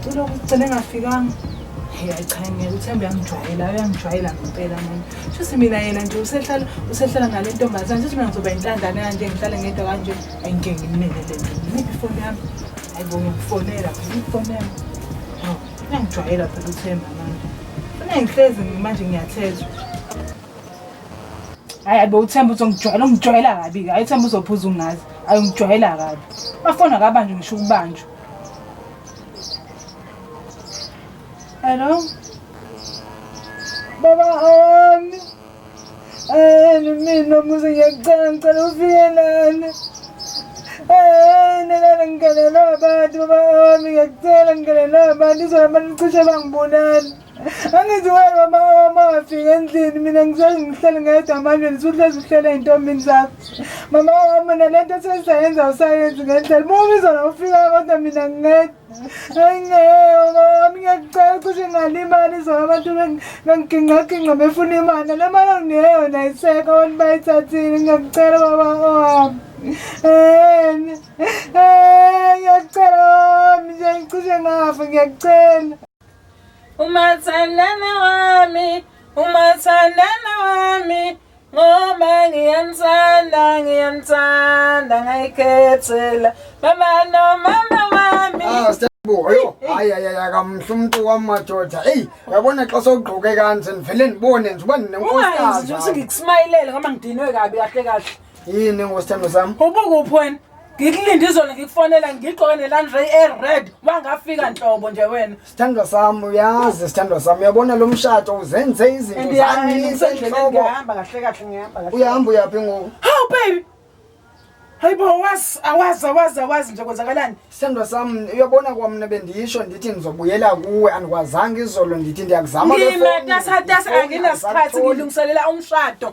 ucela ukugcina engafikanga hey ayichayingeke uthembe uyangijwayela uyangijwayela ngempela mina shuthi mina yena nje usehlala usehlala nale ntombazane shuthi mina ngizoba intandane kanje ngihlale ngedwa kanje ayingeke ngimnene le nto ngiphi ifoni yami ayibo ngiyifonela phela ifonela uyangijwayela phela uthemba manje funa ngihlezi manje ngiyathethwa hayi abe uthemba uzongijwayela ungijwayela kabi hayi uthemba uzophuza ungazi hayi ungijwayela kabi bafona kabanjwa ngisho ukubanjwa hello baba ami ene mina muze ngiyakucela ngicela ufike lana ene lana ngigalelwa abantu baba ami ngiyakucela ngigalelwa abantu izohamba nicishe bangibulala Angithi wena mama wami ungafika endlini mina ngisazi ngihlele ngedwa manje nisuhlezi uhlele ey'ntombini zakho mama wami nale nto sesizayenza usayenzi ngendlela uma ubizona ufika kodwa mina ngingedwa ayi ngeke mama wami ngiyakucela ukuthi ngalimali izona abantu bengigingqagingqa befuna imali le mali onginika yona ayiseka abantu bayithathile ngiyakucela baba owami um ngiyakucela wami nje ngicishe ngafa ngiyakucela umathandana wami umathandana wami ngoba ngiyamthanda ngiyamthanda ngayikhethela baba nomama wami ah, Boyo, hayi hayi akamhle umuntu wamadoda. Ey, uyabona xa sogqoke kanje ngivele ngibone nje uba ninenkosi. Ungayenzi nje ukuthi ngikusmayilele ngoba ngidinwe kabi kahle kahle. yini ngosithando sami ubukuphi wena ngikulinde izolo ngikufonela ngigqoke nelandray ered wangafika nhlobo nje wena sithandwa sami uyazi sithandwa sami uyabona lo mshato uzenze izinto zangisenhloko uyahamba uyaphi ngoku hawu baby hayi bo awazi awazi awazi awazi nje kwenzakalani sithandwa sami uyabona kwamna bendisho ndithi ngizobuyela kuwe andikwazanga izolo ndithi ndiyakuzama ngimetasatasa anginasikhathi ngilungiselela umshado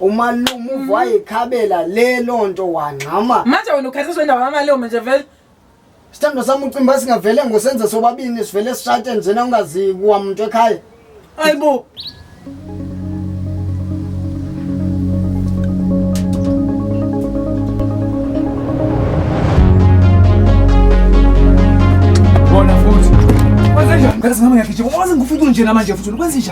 umalume uva wayekhabela le loo nto wangxama manje wena ukhathisa wendawo yamalume nje vele sithando sami ucimbi uba singavele ngosenze sobabini sivele sishate njena ungazi kuwa muntu ekhaya hayi bo bona futhi kwenzenjani mkhathi singama ngiyagijima waze ngifike unjena manje futhi kwenzenjani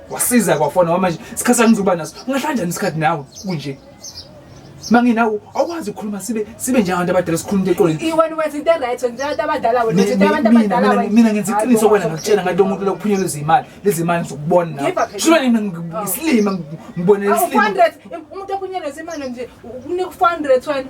wasiza kwafona manje isikhathi sangizoba naso ungahlanja isikhathi nawe kunje manginawo awukwazi ukukhuluma sibe sibe njengabantu abadala sikhuluma into eqoleni iwena wenza into right wenza abantu abadala wena wenza abantu abadala wena mina ngenza iqiniso kwena ngakutshela ngathi umuntu lokuphunyela izimali lezi mali ngizokubona nawe shilo nina ngisilima ngibonela isilima 400 umuntu ophunyela izimali nje unika 400 wena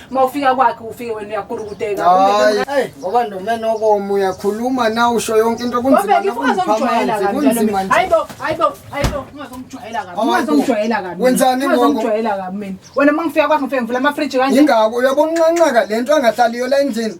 uma ufika kwakhe ufike wena uyakulukuteka hayi ngoba ndomene okomu uyakhuluma na usho yonke into kunzima nokuziphamela kunzima hayibo hayibo hayibo ungazomjwayela kabi ungazomjwayela kabi wenzani ngoku ungazomjwayela kabi mina wena uma ngifika kwakhe ngifike ngivula ama fridge kanje ingako uyabonqanqaka lento angahlaliyo la endlini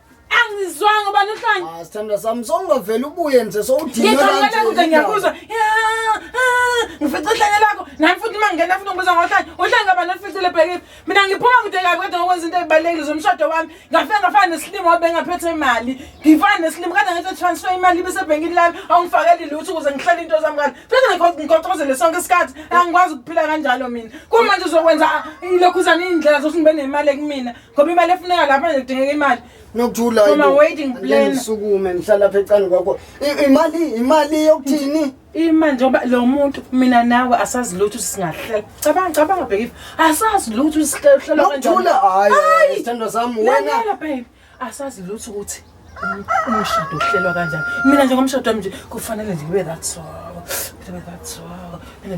angizwanga ubani uhlanya ah sithandwa sami songavela ubuye nje sowudinga kanti ngikhalela ngiyakuzwa ngifica uhlanya lakho nami futhi uma ngingena futhi ngibuza ngohlanya uhlanya ngaba nolificile bhekile mina ngiphuma kude kabi kodwa ngokwenza into ezibalulekile zomshado wami ngafika ngafana nesilimo wabe ngaphethe imali ngifana nesilimo kade ngithi transfer imali ibesebhenkini lami awungifakeli lutho ukuze ngihlele into zami kanti futhi ngikhoqozele sonke isikhathi angikwazi ukuphila kanjalo mina kumanje uzokwenza ilokhuzana iy'ndlela zokuthi ngibe nemali ekumina ngoba imali efuneka lapha nje kudingeka imali nokuthula From a waiting plan. ngisukume ngihlala lapha ecani kwakho I- imali imali yokuthini ima njengoba lo muntu mina nawe asazi lutho ukuthi singahlela cabanga cabanga bhekifa asazi lutho ukuthi sihlelwa nokuthula hayi sithandwa sami wena lalela babe asazi lutho ukuthi umshado uhlelwa kanjani mina nje ngomshado wami nje kufanele nje kube that so kube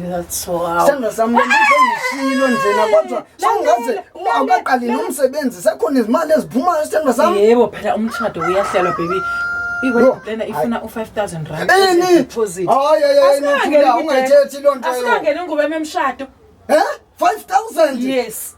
that so sandla sami lengizengishilo njena kodwa sawungaze awukaqalile umsebenzi sekhona izimali eziphumayo sithandwa sami yebo phela umshado uyahlelwa baby iwena ifuna u-5000 randungayithethilontongene nguba memshado um 5000 yes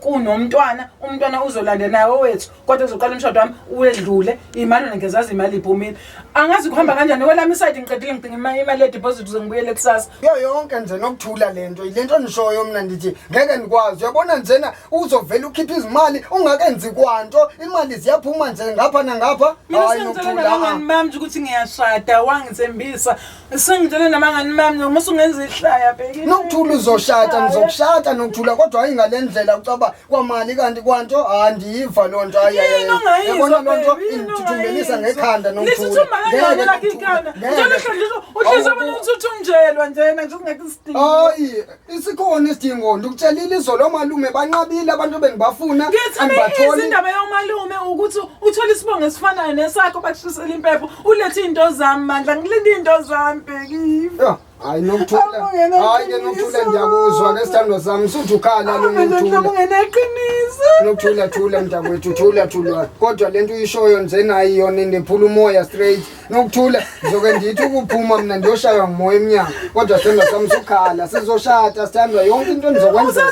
kunomntwana umntwana uzolande naye owethu kodwa kuzoqala umshado wami uwedlule imali wena ngezazi imali iphumile angazi kuhamba kanjani kwelami isayidi ngiqedile ngidinga imali imali yedibhozithi uze ngibuyele kusasa yo yonke nje nokuthula le nto le nto nishoyo mna ndithi ngeke ndikwazi uyabona njena uzovele ukhiphe izimali ungakenzi kwanto imali ziyaphuma nje ngapha nangapha mina hayi sengicelana nokuthula kangani manje ukuthi ngiyashada wangithembisa Sengitshele nabangani bami noma usungenza ihlaya bheki. Nokuthula uzoshada ngizokushada nokuthula kodwa hayi ngalendlela ucaba kwamali kanti kwanto andiyiva lo nto hayi. Yini ongayizwa? Yabona lo nto baby, yini ingithuthumbelisa ongayizwa? ngekhanda Lesi nokuthula. uthi umangangane lakhe ikhanda. Ngeke. Njalo hlonhliswa uhlezi abantu uthi uthunjelwa njena nje kungekho isidingo. Hayi Isikhona isidingo ndikutshelile izolo omalume banqabile abantu bengibafuna angibatholi. Indaba yomalume ukuthi uthole isibongo esifanayo nesakho bakushisela impepho ulethe into zami mandla ngilinde into zami bheki. Yeah. Hayi nokuthula. Hayi ke nokuthula ngiyakuzwa ke sithando sami suthi ukhala lo nokuthula. Ungeneqiniso. Nokuthula thula mntakwethu thula thula. Kodwa lento uyishoyo nje nayi yona indephula umoya straight. Nokuthula ngizoke ngithi ukuphuma mina ndiyoshaywa ngumoya emnyango kodwa sithandwa sami sukhala sizoshada sithandwa yonke into enizokwenza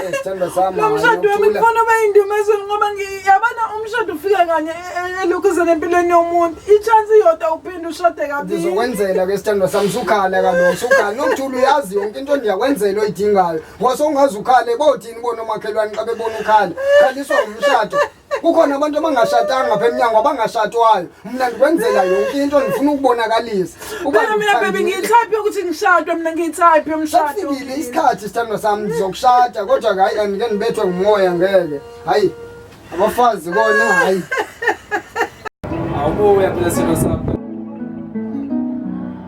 eh, sithandwa sami nomshado wami kufana bayindumezweni ngoba ngiyabona umshado ufika kanye e, e, elukhuzeni empilweni yomuntu i-chance iyodwa uphinde ushade kabili ndizokwenzela ke sithandwa sami sukhala kaloku sukhala nokuthula uyazi yonke into ndiyakwenzela oyidingayo ngoba sowungaze ukhale bothini bona omakhelwane xa bebona ukhala khaliswa ngumshado kukhona abantu abangashatanga ngapha emnyango abangashatwayo mna ndikwenzela yonke into ndifuna ukubonakalisa Phela mina baby ngiyithaphi ukuthi ngishadwe mina ngiyithaphi umshado. safikile isikhathi sithandwa sami ndizokushada kodwa ke hayi and ke ndibethwe ngumoya ngeke hayi abafazi kona hayi Awubuya phela sithandwa sami.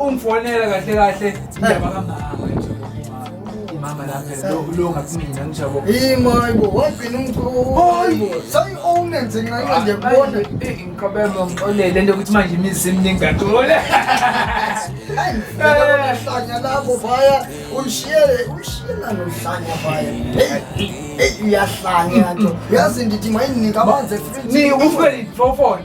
ungifonela kahle kahle indaba kamama nje mama lapha lo lo ngakumina ngijabo yimo hayibo wagcina umqoyi sayi owne nje nxa nje kubona inqabelo ngixolele lento ukuthi manje imizi eminingi kathole ayihlanya lapho vaya unshiye umshiyela nohlanya vaya hey uyahlanya nto yazi ndithi mayinika amanzi efridge ni ufike ifofone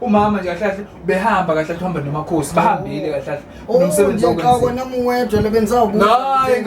umama nje kahle kahle behamba kahle kuhamba nomakhosi bahambile kahle kahle Oh, nomsebenzi nje qha kona muwedwa le bengisawubuza. Hayi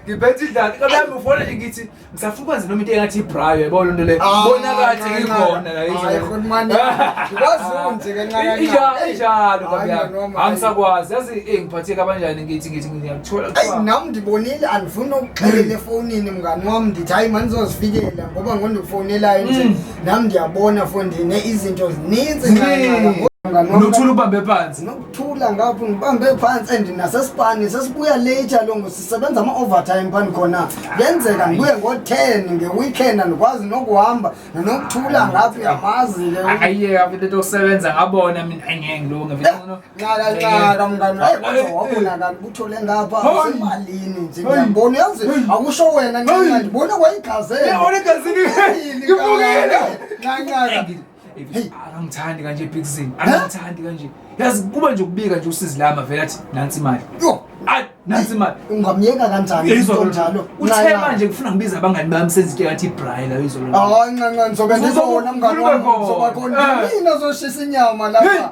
ngiphethe idlala kodwa ufona nje ngithi ngisafuna nje noma into engathi ibrayo yabo lento le Ah, bona kathi ncanca. ngikhona la Hayi, izolo. khulumani. Kwazi nje ke ncanca. Injalo injalo Hayi, babyami noma, hayi. angisakwazi yazi eh ngiphatheke abanjani ngithi ngithi ngiyakuthola Eyi kuthiwa nam ndibonile andifuni ukuxelela efonini mngani wam ndithi hayi mandizozifikela ngoba ngondifonelayo nje Mm. nam ndiyabona fondine izinto zininzi Ziningi. unothula ubambe phansi nokuthula ngapho ngibambe phansi and nasesipani sesibuya late alongo sisebenza ama-overtime phani khona kuyenzeka ndibuye ngo-ten nge-weekend andikwazi nokuhamba nanokuthula ngapho uyamazi-ke ayeka vele tosebenza ngabona mina angeke ngilunge vele nxala nxala mngani hayi kodwa wabona kanti kuthole ngapha malini nje ngiyabona yazi akusho wena nxala ndibona kwayigazela yabona igazini ngibukile nxala akamthandi kanje ebhikisini akamthandi kanje yazi kuba nje ukubika nje usizi lama vele athi nansi imali yo ayi nansi imali ungamyeka kanjani into njalo uthe manje ngifuna ngibiza abangani bami senze into ngathi ibray la izolo hayi ncanca ngizobe ndizobona mngani wami ngizoba khona mina zoshisa inyama lapha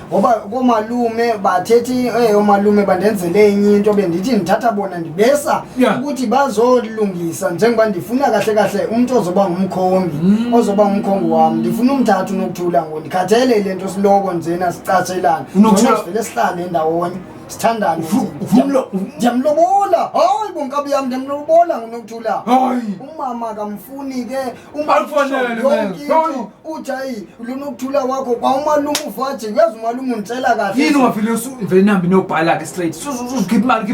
ngoba koomalume bathethe eh, oomalume bandenzele enye into bendithi ndithatha bona ndibesa Yeah. ukuthi bazolungisa njengoba ndifuna kahle kahle umntu ozoba ngumkhongi Mm. ozoba ngumkhongi wam ndifuna umthatha unokuthula ngo ndikhathele le nto siloko njena sicatshelana Unokuthula- Ngcono sivele sihlale ndawonye sithandane Ufu- nje. ufumlo- Ndiyam- ndiyamlobola hayi bonkabi yam ndiyamlobola ngunokuthula hayi umama akamfuni ke Akufanele, man. Hayi. uthi hayi lona ukuthula kwakho kwawumalume uvaje uyazi umalume unditshela kahle yini ungavele uvele nihambe niyobhala-ke straight uzokhipha imali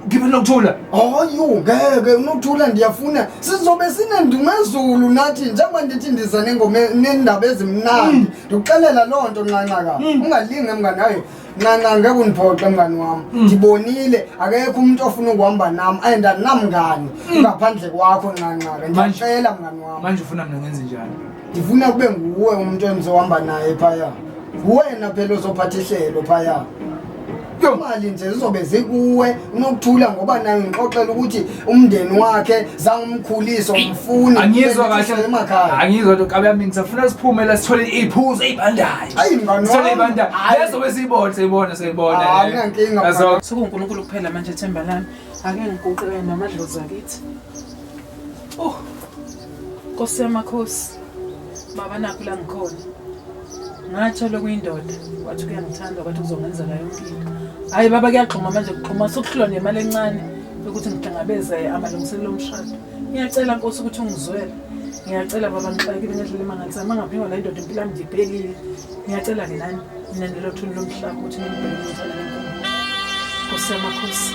khiphe nokuthula hayu ngeke unokuthula ndiyafuna sizobe sinendumezulu nathi njengoba ndithi ndiza nendaba ezimnandi ndikuxelela loo nto nxanxaka ungalinge mnganayo ncanca ngeke undiphoxe mngani wam mm. ndibonile akekho umntu ofuna ukuhamba nam and andinamngani mm. ngaphandle kwakho ncanca-ke ndiyacela mngani wam manje ufuna mna ngenze njani ndifuna kube nguwe umntu endizohamba naye phaya nguwena phela ozophatha ihlelo phaya imali nje zizobe zikuwe unokuthula ngoba nayo ngixoxela ukuthi umndeni wakhe zange umkhulise umfuni angizwa kahle emakhaya angizwa nto kabe yami ngisafuna siphume la sithole iphuzu ezibandayo ayi ngani sithole ibandayo lezo besiyibona seyibona seyibona akunankinga sokunkulunkulu kuphela manje themba lami ake ngiguqe namadlozi akithi oh Nkosi yamakhosi baba nakho la ngikhona ngathola okuyindoda wathi kuyangithanda kwathi kuzongenzela yonke into hhayi baba kuyagxuma manje kuxhuma sokuhlulwa nemali encane yokuthi ngihlangabeze amalungiselelo omshado ngiyacela nkosi ukuthi ungizwele ngiyacela baba ngixakile ngendlela emangalisa mangaphingwa la indoda impilo yami ndibhekile ngiyacela-ke nani mina nelothuni lomhlaba ukuthi ningibheke umthana nenkomo nkosi yamakhosi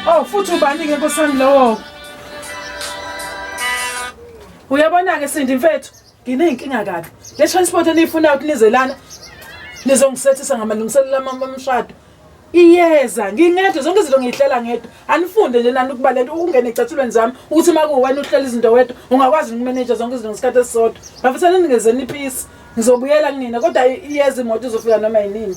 o oh, futhi ubani-ke nkosi yami lowo uyabona-ke sindi mfethu Ngineyinkinga kabi. Le transport eniyifuna ukuthi nizelana nizongisethisa ngamalungiselelo amami omshado. Iyeza ngingedwa zonke izinto ngiyihlela ngedwa. Anifunde nje nani ukuba lento ungene ecathulweni zami ukuthi uma kuwena uhlela izinto wedwa ungakwazi ukumanage zonke izinto ngesikhathi esisodwa. Bafisa nini ngeze niphisi. Ngizobuyela kunina kodwa iyeza imoto izofika noma yinini.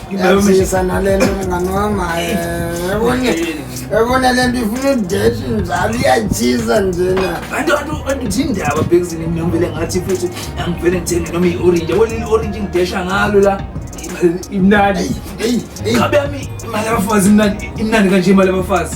Ngiyazisa nale nto mngani wam ebona le nto ifuna udeshi njalo iyatshisa njena andithindaba bhekisini mina ngivele ngathi futhi angivele ngithenge noma i-orange yabona leli orange ngidesha ngalo la imnandi ngabe yami imali yabafazi imnandi imnandi kanje imali yabafazi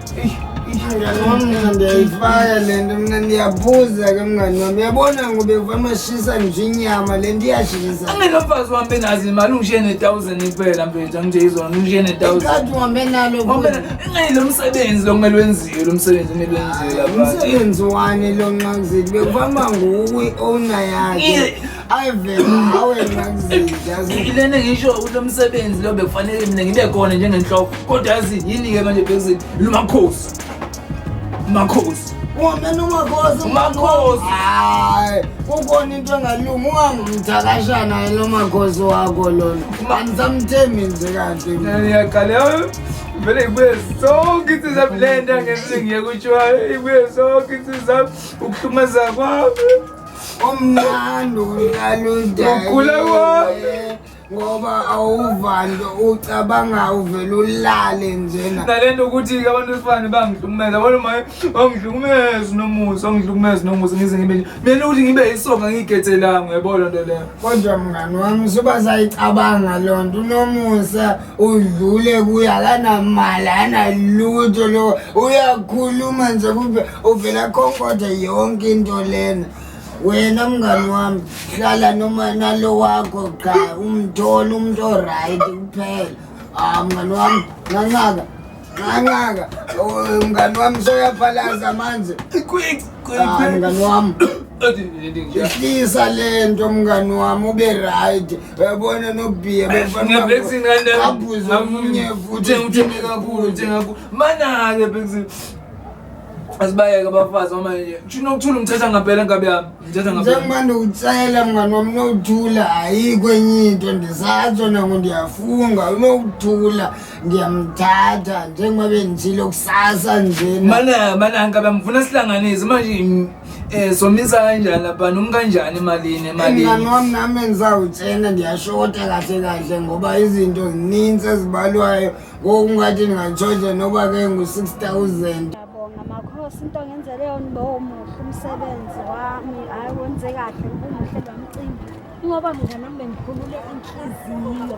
Mngani wami mina ndiyayifaya le nto mina ndiyaphuza ke mngani wami uyabona ngoba ekuva amashisa nje inyama le nto iyashisa anginomfazi wami benazi imali ungishiye ne-thousand kuphela mfethu angitshela izona ungishiye ne-thousand ikhathi uhambe nalo ingani lo msebenzi lo kumele wenziwe lo msebenzi kumele wenziwe umsebenzi wani lo nxakuzeli bekuhamba nguwe i-owner yakhe ngilene ngisho kulo msebenzi lo bekufanele mina ngibe khona njengenhloko kodwa yazi yini-ke manje bhekuzini lumakhosi makhosi wamena umakhosi umakhosi hayi kukhona into engalungi ungamthakashana lo makhosi wakho lona angisamthembi nje kahle ngiyaqala vele ibuye sonke insizwa le nto angenzi ngiye kuthiwa ibuye sonke insizwa ukuhlumaza kwami umnandi unaludaye ngoba awuvanto ucabanga uvele ulale njena nale nto ukuthi abantu besifane bangihlukumeza yabona maye bangihlukumezi nomusa bangihlukumezi nomusa ngize ngibe nje mina ukuthi ngibe yisonga ngiyigethelanga uyabona nto leyo kodwa mngani wami suba sayicabanga loo nto unomusa udlule kuye akanamali analutho lo uyakhuluma nje kube uvela khonkoda yonke into lena wena mngani wami hlala noma nalo wakho cha umthole umuntu oright kuphela ah mngani wami nganqaka Nqanqaka, oh, mngani wami soyaphalaza manje. Quick, quick. Ah, mngani wami. Ihlisa lento mngani wami ube right. Uyabona nobhiya befana. Bexing ngane. Abuze omunye futhi uthini kakhulu uthenga ku. Mana ke bexing. Asibayeke abafazi uma nje. Ushino ukuthula umthetha ngampela ngabe yami. Umthetha ngampela. Njengoba ndiwutsayela mngani wami nokuthula ayikho enye into ndisatsho nango ndiyafunga unokuthula. ngiyamthatha njengoba bengitshilo kusasa njena mana mananka bamfuna sihlanganise manje um somisa kanjani lapha noma kanjani emalini emalini mngani wami nami engizawutshena ndiyashota kahle kahle ngoba izinto zininzi ezibalwayo ngokungathi ndingatshoja noba ke ngu-six thousand ngiyabonga makhosi into ngenzele yona uba omuhle umsebenzi wami hhayi wenze kahle ubuhle bamcimbi ingoba mngani wami bengikhulule inhliziyo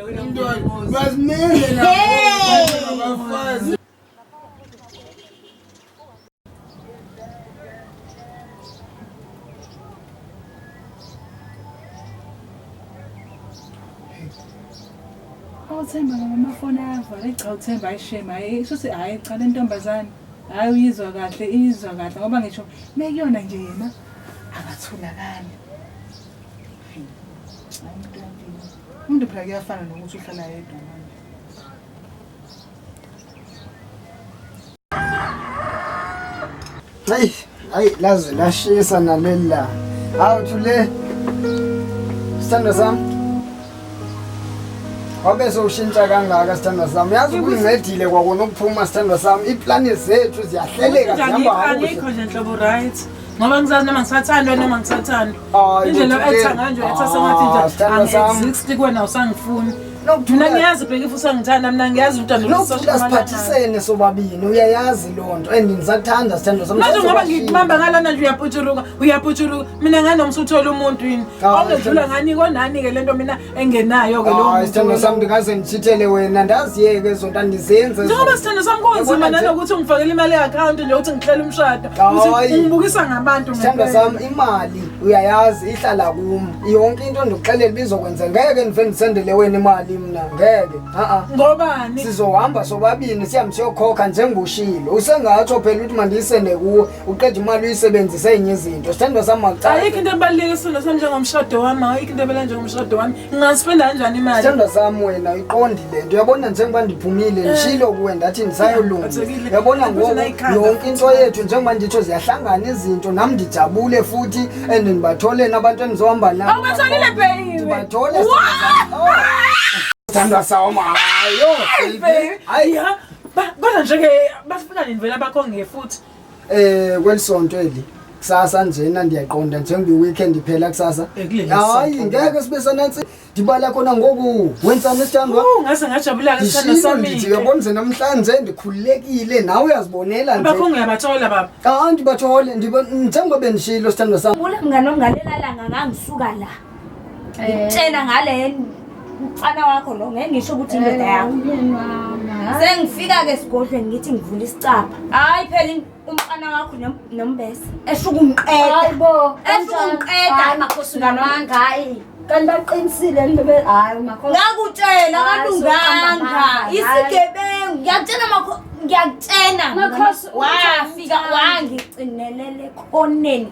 uthemba ngamafoni ayavala cha uthemba ayishema hayi shuthi hhayi cha le ntombazane hhayi uyizwa kahle iyizwa kahle ngoba ngisho mekuyona nje yena akatholakali hayi mntwana Umuntu phela kuyafana nokuthi uhlala yedwa manje. Hayi, hayi laze lashisa naleli la. Hawu thule. Sithando sami. Wabe sowushintsha kangaka sithando sami. Yazi kungincedile kwakona ukuphuma sithando sami. Iplani zethu ziyahleleka zihamba Angikho kakuhle. angikho nje nhlobo right. ngoba ngisazi noma ngisathandwa noma ngisathandwa indlela etha nganje etha sengathi nje ah, angi-exist kuwena usangifuni mina ngiyazi bheka if usangithanda mina ngiyazi udandoasiphathisene sobabini uyayazi loo nto and ngisakuthanda sithando samanje ngoba ngikubamba ngalana nje uyaputshuruka uyaputshuruka mina nganomsa uthole umuntu yini awungedlula ngani konani-ke le nto mina engenayo ke lowo sithando sami ndingaze ndithithele wena ndaziyeke zonto andizenze njengoba sithando sami kunzima nanokuthi ungifakele imali e-akhawunti nje ukuthi ngihlela umshado ungibukisa ngabantu sithando sami imali uyayazi ihlala kum yonke into ndikuxelela bizokwenza ngeke ndive ndisendele wena imali mna ngeke a-a ngobani sizohamba sobabini sihambe siyokhokha njengoshilo usengatsho phela ukuthi mandiyisende kuwe uqeda imali uyisebenzise enye izinto sithandwa sami makucala ayikho into ebaluleke isithandwa sami njengomshado wami ayikho into ebela njengomshado wami ngingasipenda kanjani imali sithandwa sami wena uyiqondi le nto uyabona njengoba ndiphumile eh. ngishilo kuwe ndathi ndisayolunga uyabona ngoku yonke into yethu njengoba nditsho ziyahlangana izinto nam ndijabule futhi and ndibatholeni abantu endizohamba nabo ubatholile beyiwebathole sithandwa sami hayo Ba- kodwa njeke bafika nini vela bakho nge futhi Eh kwelisonto eli kusasa njena ndiyaqonda njengoba iweekend iphela kusasa. Ekuleli Hayi sonto. ngeke sibe sanansi ndibala khona ngoku. Wenzani esithandwa? Oh, ngase ngajabula ke sithanda Ndishilo sami ndithi uyabona nje namhlanje ndikhululekile nawe uyazibonela bakho nje. ngiyabathola baba Hayi ndibathole ndiba njengoba bendishilo sithandwa sami. Ula mngane ongalelala ngangangisuka la. ngikutshela ngale mfana wakho lo ngeke ngisho ukuthi indoda yakho sengifika-ke esigodlweni ngithi ngivula isicapha hhayi phela umfana wakho nombese esho ukungiqeda esho ukungiqeda hayi makhosi ungane wami hayi kanti baqinisile nto be hayi makhosi ngakutshela kalunganga isigebengu ngiyakutshela makhosi ngiyakutshena wafika wangicinelele ekhoneni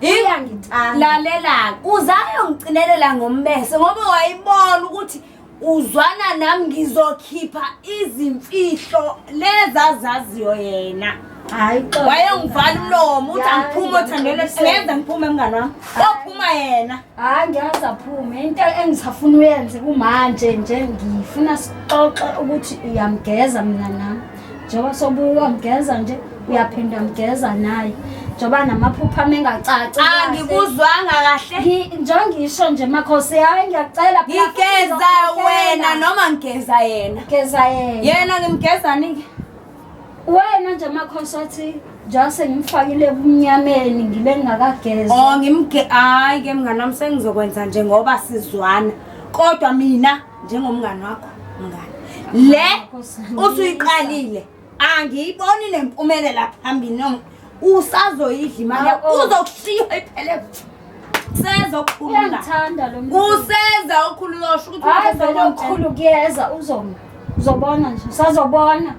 Iyangithanda. Lalela, uzayo ngicinelela ngombese ngoba wayibona ukuthi uzwana nami ngizokhipha izimfihlo lezazaziyo yena. Hayi xo. Wayengivala umlomo uthi angiphuma othandweni ngeza ngiphume mngani wami. Kophuma yena. Hayi ngiyazi aphume into engisafuna uyenze kumanje nje ngifuna sixoxe ukuthi uyamgeza mina nami. njengoba sobuwa mgeza nje uyaphinda mgeza naye njengoba namaphupha mengacaci Ah, angikuzwanga kahle njengoba ngisho nje makhosi hayi ngiyakucela phela futhi ngigeza ngizokukhokhela. wena noma ngigeza yena geza yena yena ngimgezani-ke wena nje makhosi othi njengoba sengimfakile ebumnyameni ngibe ngingakageza o ngimge hayi-ke mnganami sengizokwenza nje ngoba sizwana kodwa mina njengomngani wakho mngani le usuyiqalile angiyiboni le mpumelela phambili noma usazoyidla imali yakho Awu. uzokushiya iphele useza okukhulula Uyangithanda lo muntu. useza okukhulula usho ukuthi Hayi ungafesa vele konke. okukhulu kuyeza uzoma. Uzobona nje, usazobona.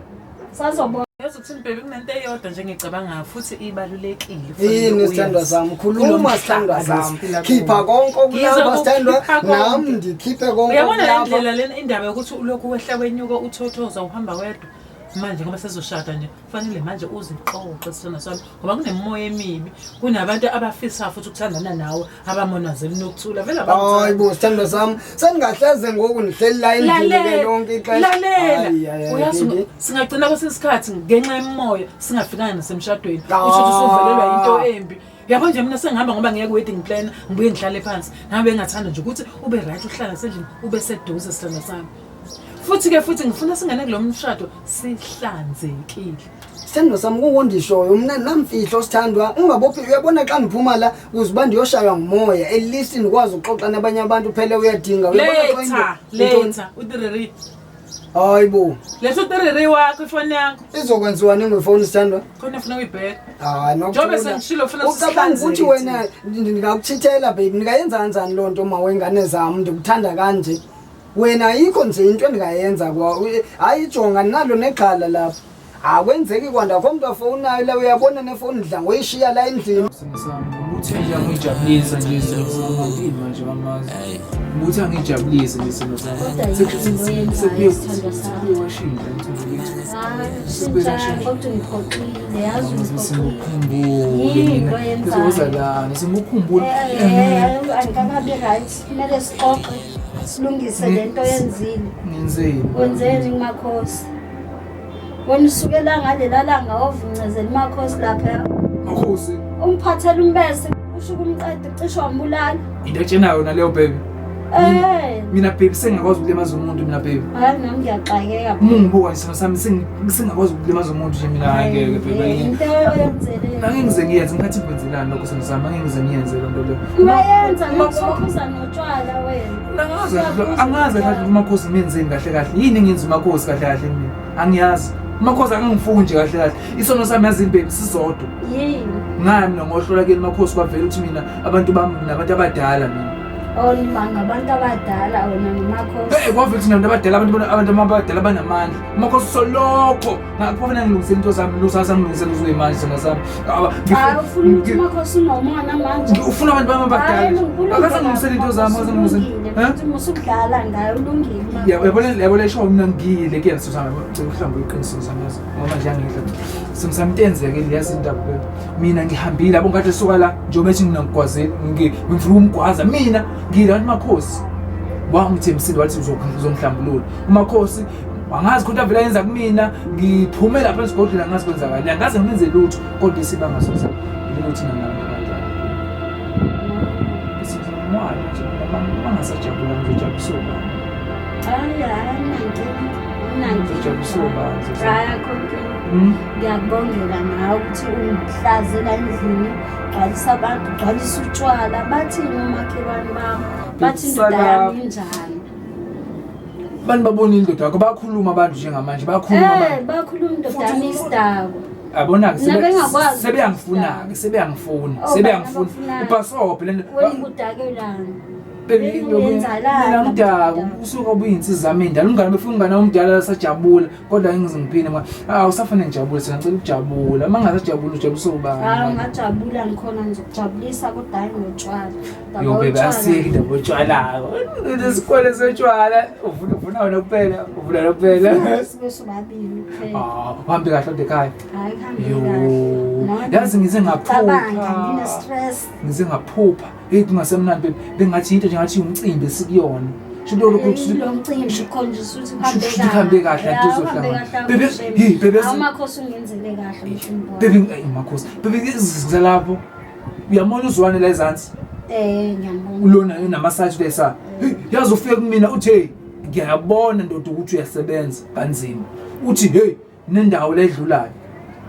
Sazobona yazi ukuthi mbhebe kunento eyodwa nje engicabanga futhi ibalulekile. Yini sithandwa sami khuluma sithandwa sami khipha konke okulapha sithandwa nami ndikhiphe konke Uyabona le okulapha ndlela lena indaba yokuthi ulokhu wehla wenyuka uthothoza uhamba wedwa manje ngoba sezoshada nje kufanele manje uziqoqe sithanda sami ngoba kunemimoya emibi kunabantu abafisa futhi ukuthandana nawe abamonazeli nokuthula vele hayi bo sithandwa sami sengingahleze ngoku ndihleli la endleleni lonke ixesha lalela uyazi singagcina kwesinye isikhathi ngenxa yemimoya singafikanga nasemshadweni kusho ukuthi usuvelelwa yinto embi yabo nje mina sengihamba ngoba ngeke wedding plan ngibuye ngihlale phansi nami bengathanda nje ukuthi ube right uhlala sendlini ube seduze sithanda sami futhi ke futhi ngifuna singene kulo mshado sihlanzekile sithandwa sami kukondishoyo mna namfihlo sithandwa ungabophi uyabona xa ndiphuma la kuze uba ndiyoshaywa ngumoya at least ndikwazi ukuxoxa nabanye abantu phele uyadinga leta leta utiriri hayi bo leta utiriri wakho ifoni yakho izokwenziwa ni ngefoni sithandwa khona funa uyibheka hayi nokjobe sengishilo funa ucabanga ukuthi wena ndingakuchithela baby ndingayenza kanjani loo nto ma wengane zam ndikuthanda kanje wena ayikho nje into endingayenza kwa hayi ijonga nalo negxala lapho akwenzeki kwanda kho mntu afowunayo la uyabona nefowuni ndidla ngoyishiya la endlini ukuthi nje angijabulisa nje isimo sami manje bamazi ukuthi angijabulise nje isimo sami sekubuye washintsha simukhumbule simukhumbule kumele sixoxe silungise le nto yenzile ngenzeni wenzeni kumakhosi wena usukela ngalela langa wavuncezela umakhosi lapha makhosi umphathela umbese usho ukumqeda ucishe wambulala into etshena yona leyo baby Eh. mina baby sengingakwazi ukulimaza umuntu mina baby hayi nami ngiyaxakeka uma ungibuka nje sona sami sengi- sengingakwazi ukulimaza umuntu nje mina hhayi ngeke baby Eh, into oyenzele nangengize ngiyenze ngikhathi ngikwenzelani lokho sona sami angeke ngize ngiyenze loo nto leyo Uyayenza ngokuphuza notshwala wena. Angazi angazi kahle umakhosi imenzeni kahle kahle. Yini engenza umakhosi kahle kahle mina? Angiyazi. Umakhosi akangifuni nje kahle kahle. Isono sami yazi imbhebi sisodwa. Yini? Ngaya mina ngohlola kuyena umakhosi kwavela ukuthi mina abantu bami nabantu abadala mina. Olima ngabantu abadala wena nomakhosi. Eh kwavela ukuthi nabantu abadala abantu abantu abadala banamandla. Umakhosi solokho Ngakufuna ngilungise into zami, ngilungise zami, ngilungise ngizwe manje zona zami. Aba. Hayi ufuna ukuthi makhosi unomona manje. Ufuna abantu bami abadala. Akaze ngilungise into zami, akaze ngilungise. Eh? Musukudlala ngayo ulungile. Yabo yabo yabo le show mina ngiyile ke yaso sami. Ngicela ukuhlamba iqiniso zami yazi. Ngoba nje angidla. Simsamtenzeke liyazi indaba le. Mina ngihambile abo ngathi suka la njengoba ethi mina ngigwazile, ngifuna umgwaza mina ngiyile abantu makhosi. wangithembisile wathi uzongihlambulula umakhosi angazi khona avela yenza kumina ngiphume lapha esigodlweni angazi kwenzakani angazi ngimenze lutho kodwa isibanga soza lelo thina nabantu abadala sizomwana nje bangasajabula ngizojabulisa ubani hayi hayi ngijabulisa ubani hmm? ngiyakubongela ngawe ukuthi ungihlazela endlini gcwalisa abantu gcwalisa utshwala bathini omakhelwane bami bathi indoda yami injani abantu babona indoda yakho bakhuluma abantu njengamanje bakhuluma eh, abantu bakhuluma indoda yami isidakwa abona-ke sebeyangifuna-ke sebeyangifuna oh, sebeyangifuna ubhasobhe lento mdaka usuke obuyinsiza mina ndala umngane befuna umngane omdala lasajabula kodwa ngize ngiphinde ngoba ah usafane ngijabule sena ngicela ukujabula uma ngasajabula ujabulisa ubani ah ngajabula ngikhona ngizokujabulisa kodwa hayi ngotshwala yobebe asiyeki indaba otshwalako isikole setshwala uvuna wena kuphela uvuna wena kuphela ah, uhambe kahle ode ekhaya yazi ngize ngaphupha ngize ngaphupha eyi kungasemnandi bengathi yinto nje ngathi umcimbi esikuyona uhambe kahle antizohlangana bebemakhosi bebezalapho Uyamona uzwane la ezansi. Eh ngiyambona. Ulona yona massage besa. Hey, yazi ufike kumina uthi hey ngiyabona ndoda ukuthi uyasebenza kanzima. Uthi hey nendawo ledlulayo.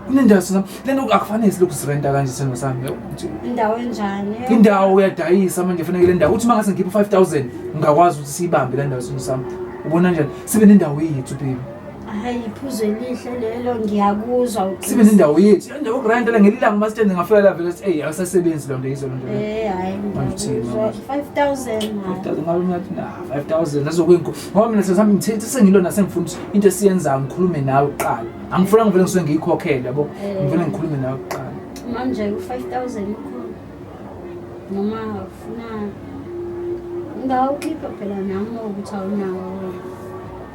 Kunendawo sina lento akufanele silokhu sirenta kanje seno sami. yabo, ukuthi Indawo enjani? Indawo uyadayisa manje fanele le ndawo. Uthi mangase ngikhiphe 5000 ngingakwazi ukuthi siyibambe le ndawo sino sami. Ubona njani? Sibe nendawo yethu baby. Hayi iphuzo elihle lelo ngiyakuzwa uqinisa. Sibe nendawo yethu. Indawo ugrandela ngelilanga uma sithende ngafika la vele hey awusasebenzi lo nto yizo lo nto. Eh hayi. 5000. 5000 ngabe ngathi na 5000 nazokwinko. Ngoba mina sesami ngithethe sengilona sengifuna ukuthi into esiyenza ngikhulume nawe kuqala. Angifuna ngivele ngisuke ngiyikhokhele yabo. Eh. Ngivele ngikhulume nawe kuqala. Manje u 5000 ukhulu. Noma ufuna Ngawukhipha phela nami ukuthi awunawo.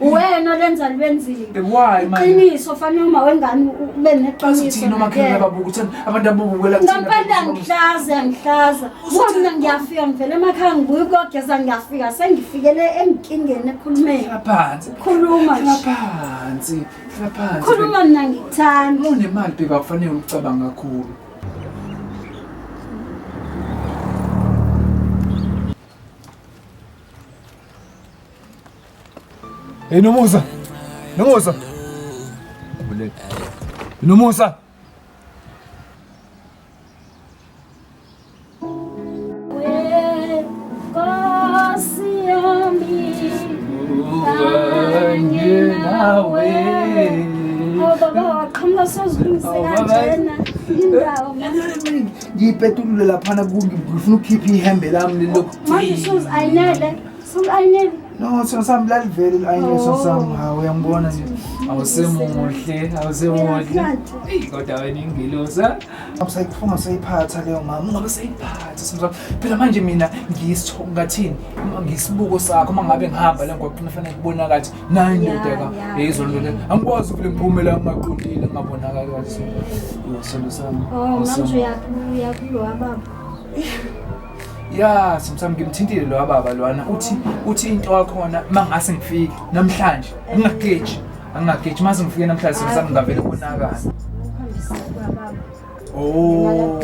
Uwena lenza lwenzile. Why man? Iqiniso fanele uma wengane ube neqiniso. Uthini uma khona babuka uthi abantu abubukela kuthi. Ngempela ngihlaza ngihlaza. Wona ngiyafika ngivele emakhaya ngibuye ukogeza ngiyafika sengifikele emkingeni ekhulumeni. Ngaphansi. Khuluma nje. Ngaphansi. Ngaphansi. Khuluma mina ngithanda. Unemali bheka kufanele ucabanga kakhulu. Hey Nomusa. Nomusa. Buleka. Nomusa. ngiyipetulule laphana kungifuna ukukhipha ihembe lami lilokhu Ulayinele. No, sona sami lalivele ilayinele Oh. sona sami. Hawu uyangibona nje. Awusemuhle, awusemuhle. Eyi kodwa wena ingilosi. ha? Usayifunga usayiphatha leyo mama. Ungabe sayiphatha sona sami. Phela manje mina ngiyisitho ngathini? Uma ngisibuko sakho uma ngabe ngihamba la ngoba kufanele kubona kathi nayi Ya, ndoda ka. ya. Hey izolo le. Angikwazi ukule ngiphume la ngaqondile ngabonakala kathi. Yo sona sami. Oh, manje awusemuhle. uyakulowa baba. ya sometimes ngimthintile lo baba lwana uthi uthi into wakhona mangase ngifike namhlanje ngingagage angingagage mase ngifike namhlanje sometimes ngingavele konakala oh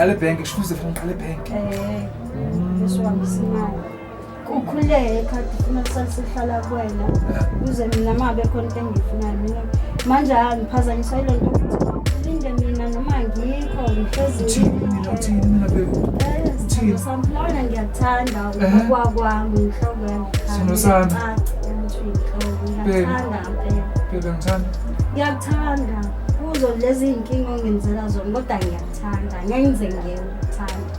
ngiqale bank kushukuze fanele ngiqale bank eh kusho ngisimayo Kukhuleke ikhadi funa salisehlala kuwena kuze mina uma bekhona into engiyifunayo mina manje angiphazanyiswa yile nto ukuthi ulinde mina noma ngikho ngihlezini samfulawana ngiyakuthanda ukwakwami inhloko yangiyakuthanda ngiyakuthanda kuzo lezi iy'nkinga ongenzela zona kodwa ngiyakuthanda ngeke ngize ngiyekuthanda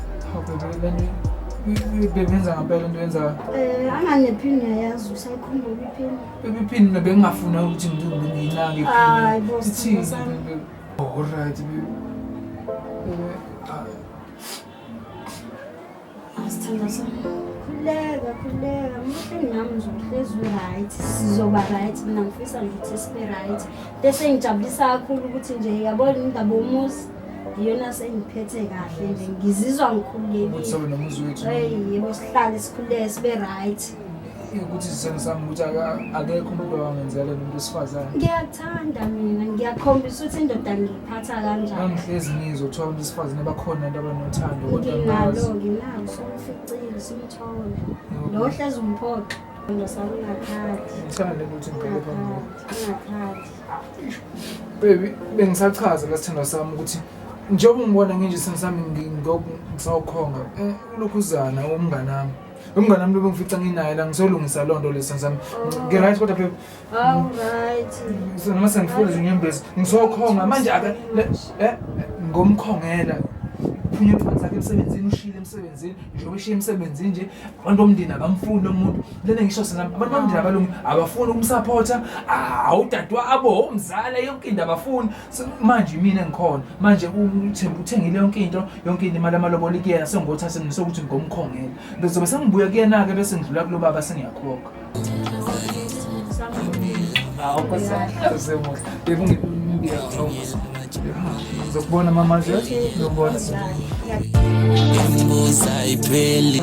Bebenza ngampela into yenzayo. Eh angane phini uyayazi usayikhumbula iphini. Baby phini mina bengingafuna ukuthi nginginake phini. Hayi bo sithini sami. Oh right baby. Eh Asithanda sami. Khuleka khuleka mhle nami ngizohlezi right sizoba right mina ngifisa nje ukuthi sibe right. Bese ngijabulisa kakhulu ukuthi nje yabona indaba omuzi. iyona sengiphethe kahle nje ngizizwa ngikhululekile sihlale sikhululeke sibe right ukuthi sisene sami ukuthi akekho umuntu owangenzela umuntu wesifazane ngiyakuthanda mina ngiyakhombisa ukuthi indoda ngiyiphatha kanjani angihlezi ngizwa kuthiwa abantu besifazane bakhona abantu abanothando kodwa nginalo nginalo somficile simthole lo hlezi umphoxa ndosakungathandi ngithanda ukuthi ngibheke phambili Baby, bengisachaza lesithandwa sami ukuthi njengoba ungibona nginje isithando sami ngi- ngoku ngisawukhonga eh, ulokhuzana umngane wami umngane wami lobengifica nginaye la ngisolungisa loo nto lesithando sami ngirayithi kodwa baby Awu right. So, noma sengifuna zinyembezi ngizokhonga manje aka ne- eh, ngomkhongela phunye phansi akhe emsebenzini ushile emsebenzini njengoba eshiye emsebenzini nje abantu bomndeni abamfuni lo muntu lena ngisho sina abantu bamndeni abalungi abafuni ukumsupporta awudadwa abo umzala yonke into abafuni So, manje mina ngikhona manje uthemba uthengile yonke into yonke into imali amaloboli kuyena sengothathe mina sokuthi ngomkhongela ngizobe sengibuya kuyena-ke bese ngidlula kulo baba sengiyakhokha ngizokubona mama nje ngizokubona Imbuza ipheli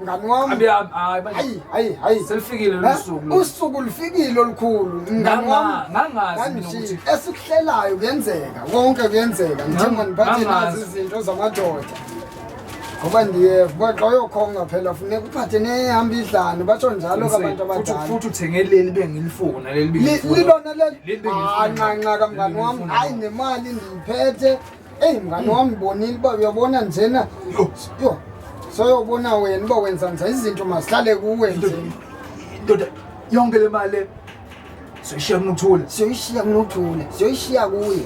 mngani wami Abi- abi- hayi, manje- hayi hayi hayi selifikile lolu Ha? suku usuku lufikile olukhulu mngani Nganga- wami ngangazi mina Kanti ukuthi esikuhlelayo kuyenzeka konke kuyenzeka ngithe Nganga- mandiphathe nazi ngangazi. izinto zamadoda ngoba ndiye kwaxa uyokhonga phela funeka uphathe nehamba idlane basho njalo Futhi- kabantu futhi- abadala futhi uthenge leli bengilifuna leli Li- bengilifuna. lilona leli Leli bengilifuna. Ah, ncanca kamngani Leli wami bengilifuna. hayi nemali ndiyiphethe Eyi mngani wami bonile uba uyabona njena yho soyobona wena uba wenza nje izinto mazihlale kuwe nje ndoda yonke le mali le soyishiya kunothula siyoyishiya kunothule siyoyishiya kuye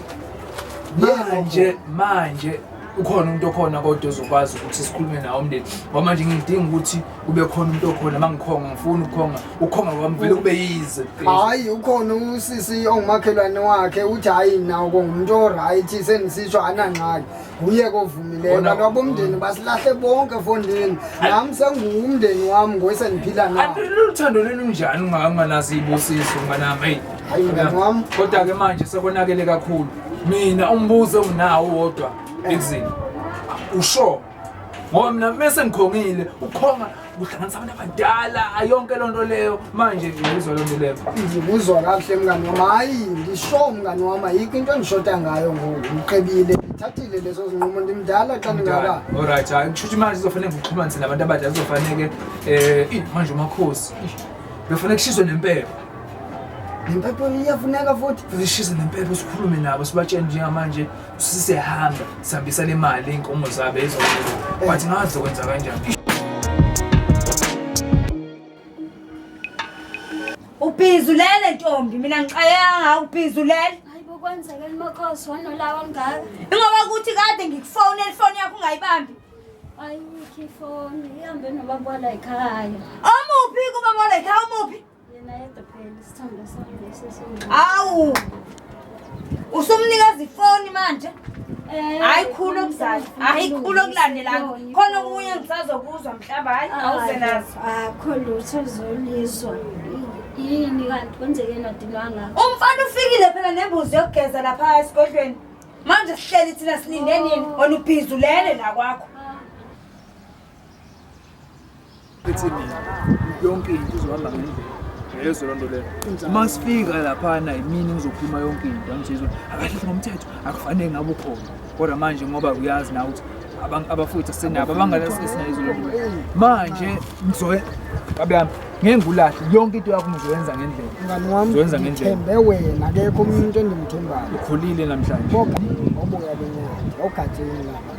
manje manje ukhona umuntu okhona kodwa ozokwazi ukuthi sikhulume nawo umndeni ngoba manje ngidinga ukuthi kube khona umuntu okhona mangikhonga ngifuna ukukhonga ukhonga kwami vele kube yize hayi ukhona usisi ongumakhelwane wakhe uthi hayi nawo kongumuntu oright senisisho anangxaki nguye kovumileyo abantu abomndeni mm. basilahle bonke efondini nami senguwumndeni wami ngoyeseniphila nawo luthando lwenu njani unganganazi ibusiso nganami eyi hayi mngani wami kodwa-ke manje sekonakele kakhulu mina umbuzo nginawo wodwa ekuzini usho ngoba mina mese ngikhongile ukhonga kuhlanganisa abantu abadala yonke loo nto leyo manje ngiyizwa loo nto leyo ngikuzwa kakuhle mngani wami hayi ngisho mngani wami ayikho into engishoda ngayo ngoku ngiqebile ngithathile lezo zinqumo ndimdala xa ndingaka olright hayi kusho ukuthi manje kuzofanele ngikuxhumanise nabantu abadala kuzofaneke um manje umakhosi befanele kushiswe nempepho nempepho iyafuneka futhi zishise nempepho sikhulume nabo sibatshele njengamanje sisehamba sihambisa le mali iy'nkomo zabo ezokwenza but ngazi zokwenza kanjani ubhizi ulele ntombi mina ngixayanga ubhizi ulele Hayibo kwenzekeni makhosi wanolawa ngaka. ingoba kuthi kade ngikufonela ifoni yakho ungayibambi Ayikho ifoni ihambe nobaba wala ekhaya. omuphi kuba molekhaya omuphi awu usumnikeza ifoni manje eh, hayi khulu okuzala hayi khulu okulandelana khona okunye ngisazokuzwa mhlawumbe hayi awuze nazo akho lutho zolizwa yini kanti kwenzeke nodinwanga umfana ufikile phela nembuzi yokugeza lapha esigodlweni manje sihleli thina silinde nini oh. ona ubhizulele la kwakho ethi mina yonke into izohamba ngendlela yeso loo nto leyo uma sifika laphana yimini ngizokhuluma yonke into angijezo akahlehli ngomthetho akufanele ngabe ukhona kodwa manje ngoba uyazi na ukuthi abafowethu asenabo abangalasesinayizo loo nto manje ngizoye babe yami ngeke ngulahle yonke into yakho ngizoyenza ngendlela mngani wami ngizoyenza ngendlela ngithembe wena akekho umuntu endimthembayo ukhulile namhlanje obuya benyaka ogatsheni lapha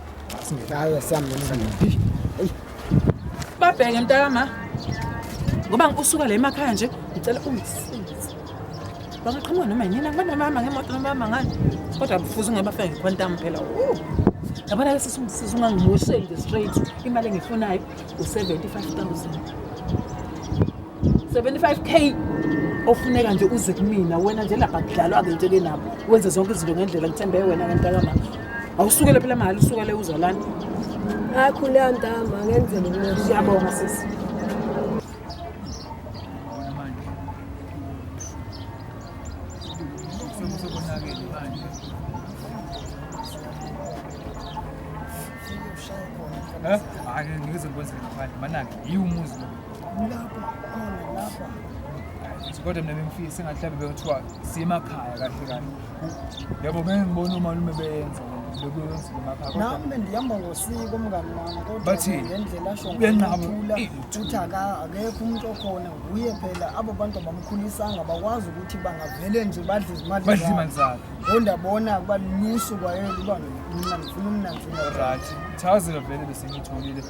Singekayo sami nomzimbi. Babheke mntakama. Ngoba ngikusuka la emakhaya nje ngicela ungisize. Bangaqhamuka noma yini ngoba nomama ngemoto nomama ngani. Kodwa kufuze ungabafika ngequantum phela. Woo. Yabona ke sisi ungisiza ungangimosheli nje straight. Imali engifunayo u-75000. 75k ofuneka nje uze kumina wena nje lapha kudlalwa-ke nje ke nabo wenze zonke izinto ngendlela ngithembe wena kantakama awusukele phela mahhala usukele uzalana akhulea ntama ngenzela umuntu siyabonga sisi Huh? Ake ngize ngikwenze ngaphandle manake yiwumuzi lo kodwa mina bengifisa engathi mhlawumbe bekuthiwa siyemakhaya kahle kahle yebo ngeke ngibone umalume beyenza bekuyenzile emakhaya kodwa nami bendihamba ngosiko umngani wami kodwa Bathini? ngendlela asho Uyanqaba. ngokuthula Ih, uthi aka- akekho umuntu okhona nguye phela abo bantu abamkhulisanga bakwazi ukuthi bangavele nje badle izimali badla zabo. imali zakhe Ngonda bona kuba lusu kwayena uba mna ngifuna umnanzi right thazelo vele besengitholile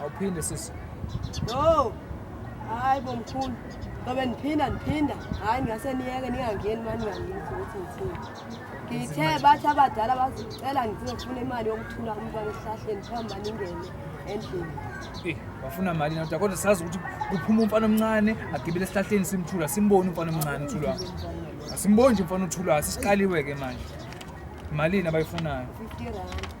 awuphinde sisi no hayi bo mkhulu ngobe ndiphinda ndiphinda hayi ngase niyeke ningangeni mani ngangini ukuthi ngithini ngithe bathi abadala bazicela ngizofuna imali yokuthula umntwana esihlahleni phamba ningene endlini Eh, wafuna mali nakuda kodwa sazi ukuthi kuphuma umfana omncane agibele esihlahleni simthula simboni umfana omncane uthulwa asimboni nje umfana uthulwa sisiqaliwe ke manje malini abayifunayo 50 rand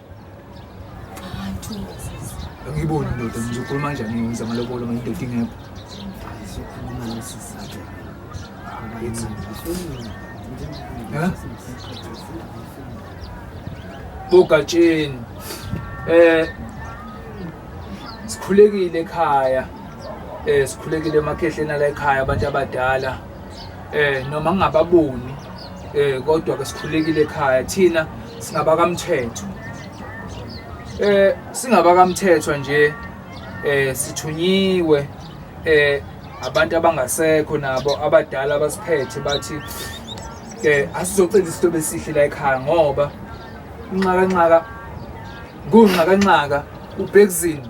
angiyiboni indoda ngizokhuluma kanjani ngenza amalobolo ngoba indoda ingekho Sokhuluma nesizathu. Abayenzi. Huh? bogatsheni eh sikhulekile ekhaya eh sikhulekile emakhehleni ala ekhaya abantu abadala eh noma ngingababoni eh kodwa ke sikhulekile ekhaya thina singabakamthetho eh singabakamthetho nje eh sithunyiwe eh abantu abangasekho nabo abadala abasiphethe bathi eh asizocela isinto besihle la ekhaya ngoba inxaka nxaka kunxaka nxaka ubhekuzini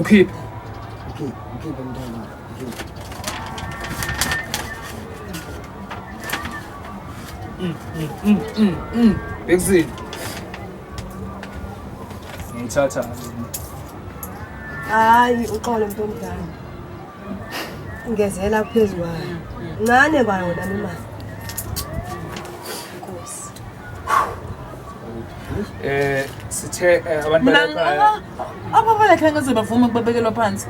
Mkhiphe. Mkhiphe, mkhiphe mntana. Mkhiphe. Mm, mm, mm, mm, mm. Bexy. Ngithatha. Hayi uxolo mntu omdala. Ngezela phezulu kwayo. Ncane kwayo nami imali. Eh sithe eh, abantu mina balapha ababalekha ngeze bavuma ukubabekelwa phansi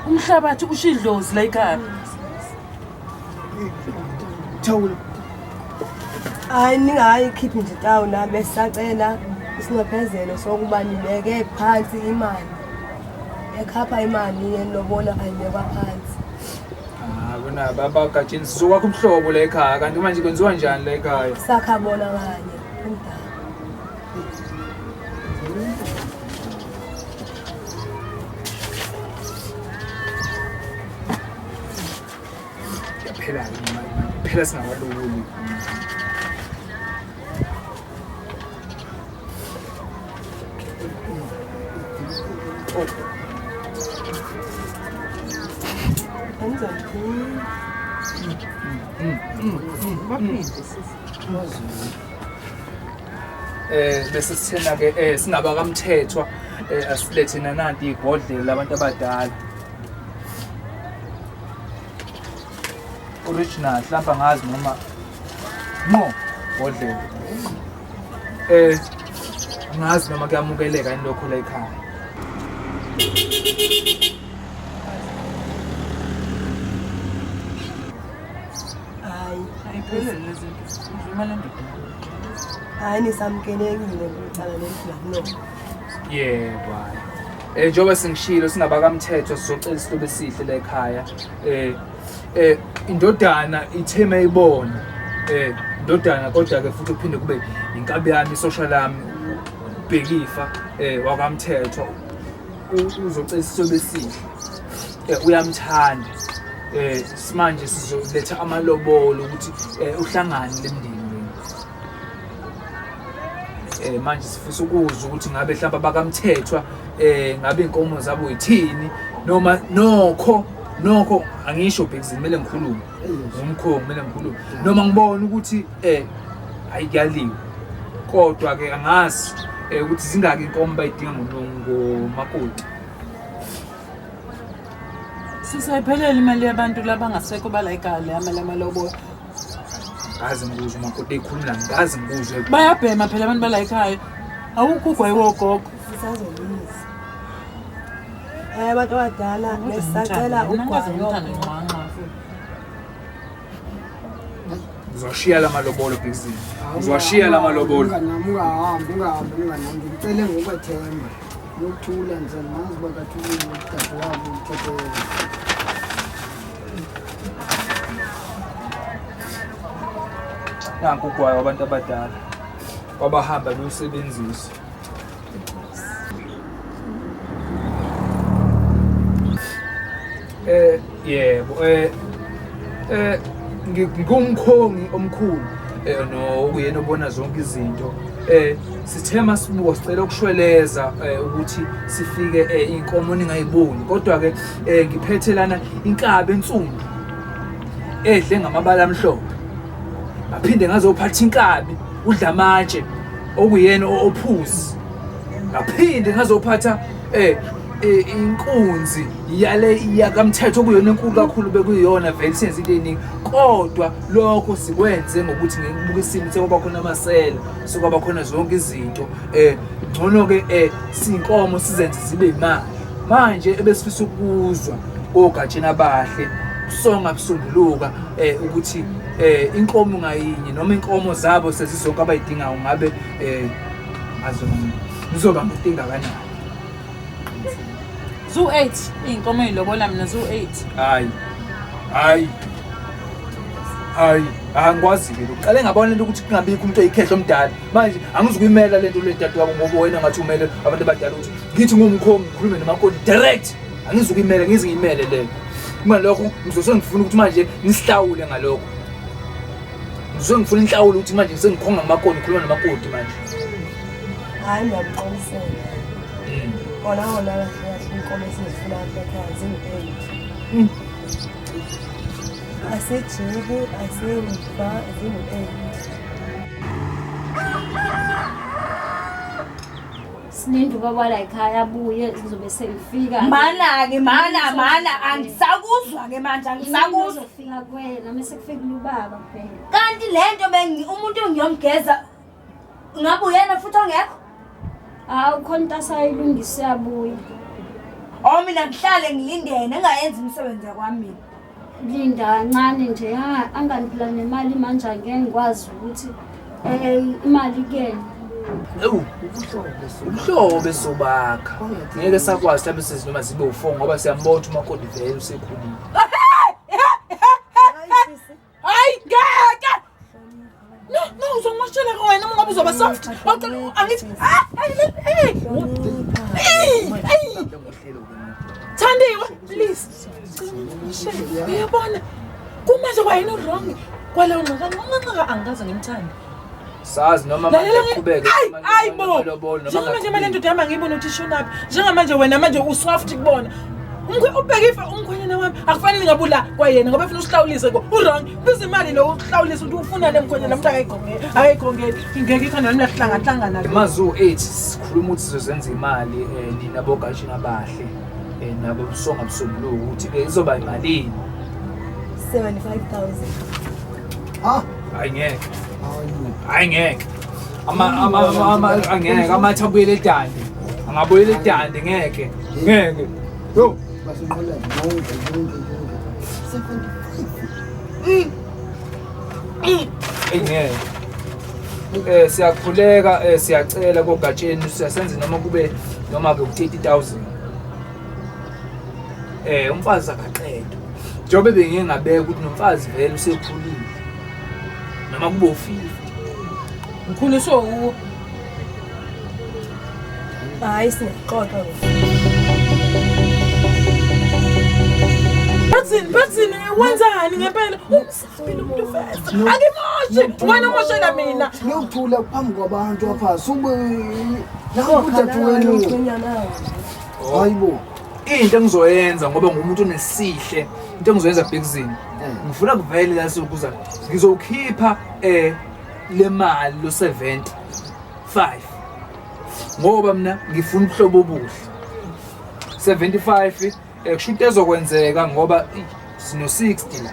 umhlabathi usho idlozi la ikhaya Thawula. hayi ningayi khiphi nje tawu nami esisacela isinxephezelo sokuba nibeke phansi imali ekhapha imali yelobola ayibekwa phansi Ah, kunaba abagajini sizokwakha ubuhlobo la ekhaya kanti manje kwenziwa njani la ekhaya sakha bona kanye umdala yaphela-ke imali manje phela singabalukuli eh bese sithena ke eh singaba kamthethwa eh asilethe nananti igodlela labantu abadala original hlamba ngazi noma Mo, bodlela. Eh, ngazi noma kuyamukeleka yini lokho la ekhaya. Hayi, ayiphelele lezi nto. Ngivuma le ndoda. Hayi nisamkelekile ngicala lendlela no. Yebo hayi. Eh njengoba sengishilo singabakamthetho sizocela isihlobo esihle la ekhaya. Eh eh indodana itheme ibona eh indodana kodwa ke futhi uphinde kube inkabi yami isosha lami ubhekifa eh wakamthethwa uzocela isobe sihle eh uyamthanda eh simanje sizoletha amalobolo ukuthi eh, uhlangane lemndeni eh manje sifisa ukuzwa ukuthi ngabe hlamba bakamthethwa eh ngabe inkomo zabo yithini noma nokho nokho angisho bhekizini kumele ngikhulume ngomkhongo kumele ngikhulume noma ngibona ukuthi um hayi kuyaliwe kodwa-ke angazi um ukuthi zingaki inkomo bayidinga ngomakoti sisayiphelele imali yabantu labangasekho balayikale amalama lobola ngazi ngikuzwe umakoti ekhuluma la ngazi ngikuzwe bayabhema phela abantu bala ekhaya awukho ugwayi wogogo sisazolungisa um abantu abadala besisacela ugwayi uzwashiya la malobolo bhekisini uzwashiya la malobolo ungahambi ungahambi unganami ngicele ngokwethemba yokuthula nje mazi bakathulile udade wabo uthethele nanku ugwayo wabantu abadala wabahamba bewusebenzisa eh yebo eh eh ngumkhongi omkhulu eh no uyena obona zonke izinto eh Sithe masibuka sicela ukushweleza eh, ukuthi sifike eh, inkomo ningayiboni kodwa ke eh, ngiphethe lana inkabi ensundu edle ngamabala amhlophe ngaphinde ngazophatha inkabi udla amatshe okuyena ophuzi ngaphinde ngazophatha eh e, inkunzi yale yakamthetho kuyona enkulu kakhulu bekuyona vele senze into eningi kodwa lokho sikwenze ngokuthi ngikubuka isimo sekuba khona amasela sokwaba khona zonke izinto eh ngcono ke eh sinkomo sizenze zibe imali manje ebesifisa ukuzwa kogatsheni abahle kusonga kusunguluka eh ukuthi eh inkomo ngayinye noma inkomo zabo sezizonke abayidingayo ngabe eh azona ngizoba ngitinga kanjani Zoo 8 iy'nkomo ey'lobola mina zoo 8 hayi hayi hayi angikwazi-ke lokhu qale ngabona into ukuthi kungabikho umuntu oyikhehla omdala manje angizukuyimela le nto le dade wabo ngoba wena ngathi umele abantu abadala ukuthi ngithi ngumkhomi ngikhulume nomakoti direct angizukuyimela ngize ngiyimele leyo uma lokho ngizose ngifuna ukuthi manje nisihlawule ngalokho ngizose ngifuna inhlawulo ukuthi manje sengikhonga nomakoti ngikhuluma nomakoti manje hayi ngiyamqolisela kona mm. kona kahle kahle inkomo esizifuna apha ekhaya zingu-eight mm. asejibu asemva zingu-eight sinindi ubaba la ekhaya abuye ngizobe sengifika mana-ke mana mana angisakuzwa-ke manje angisakuzwa fika kwena mese kufikile ubaba kuphela kanti le nto umuntu ngiyomgeza Ngabe uyena futhi ongekho? Hawu khona into asayilungisa uyabuya. Oh mina ngihlale ngilindene engayenzi imisebenzi yakwami mina. Linda ncane nje ha anganiphila nemali manje angeke ngikwazi ukuthi eh imali kuyena. Ewu ubuhlobo sobakha. Ngeke sakwazi mhlawumbe sizinoma zibe u4 ngoba siyambona ukuthi umakoti vele usekhulile. hayi ngeke no no uzongimoshela wena uma ngabe uzoba soft wacela angithi ah hey hey hey thandiwe please uyabona kumanje kwayena uwrong kwaleyo nxaka nxaka angikaze ngimthande sazi noma manje uqhubeke hayi bo njengamanje manje ndoda yami angiyiboni ukuthi ishonaphi njengamanje wena manje usoft kubona ubheke ifa umkhwenyana wami akufanele ngabe ula kwayena ngoba funa usihlawulise ko urong biza imali lo uhlawulise ukuthi ufunane mkhwenyana mntu akayigongeli akayigongeli ingeke ikhona nami lahlangahlangana mazu 8 sikhuluma ukuthi sizozenza imali um nina bogashini abahle um nabo busonga busombuluko ukuthi-ke izoba yimalini 75 000 Ha? Ay ngeke. Awu. Ay ngeke. Ama ama ama ama ay ngeke amatha abuyele edande. Angabuyele edande ngeke. Ngeke. Yo. Basinqola yonke yonke yonke. Seven. Ay ngeke. Eh siyakhuleka eh siyacela kogatsheni siyasenza noma kube noma ke u 30000. eh umfazi akaqedwe njengoba bengike ngabeka ukuthi nomfazi vele usekhulile noma kube ufile mkhulu so u hayi singaqoqa Bathini bathini wenzani ngempela Siphila umuntu first. Angimoshi. Wena umoshela mina. Ngiyokuthula phambi kwabantu apha. Sube nawo udadu wenu. Hayibo. Into engizoyenza ngoba ngumuntu onesihle. Into engizoyenza bhekizini. Ngifuna kuvele la sokuza. Ngizokhipha eh le mali lo 70 5 ngoba mina ngifuna ubuhlobo obuhle 75 Eh kusho into ezokwenzeka ngoba sino 60 la.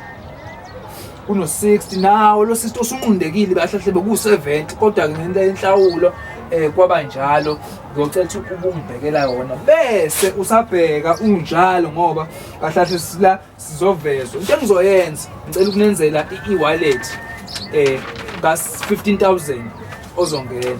Kuno 60 nawo lo sister usunqundekile bahlahle beku 70 kodwa ke ngento yenhlawulo eh kwaba njalo ngiyocela ukuthi ubungibhekela yona bese usabheka unjalo ngoba kahlahle sila sizovezwa into engizoyenza ngicela ukunenzela i-wallet eh ka 15000 ozongena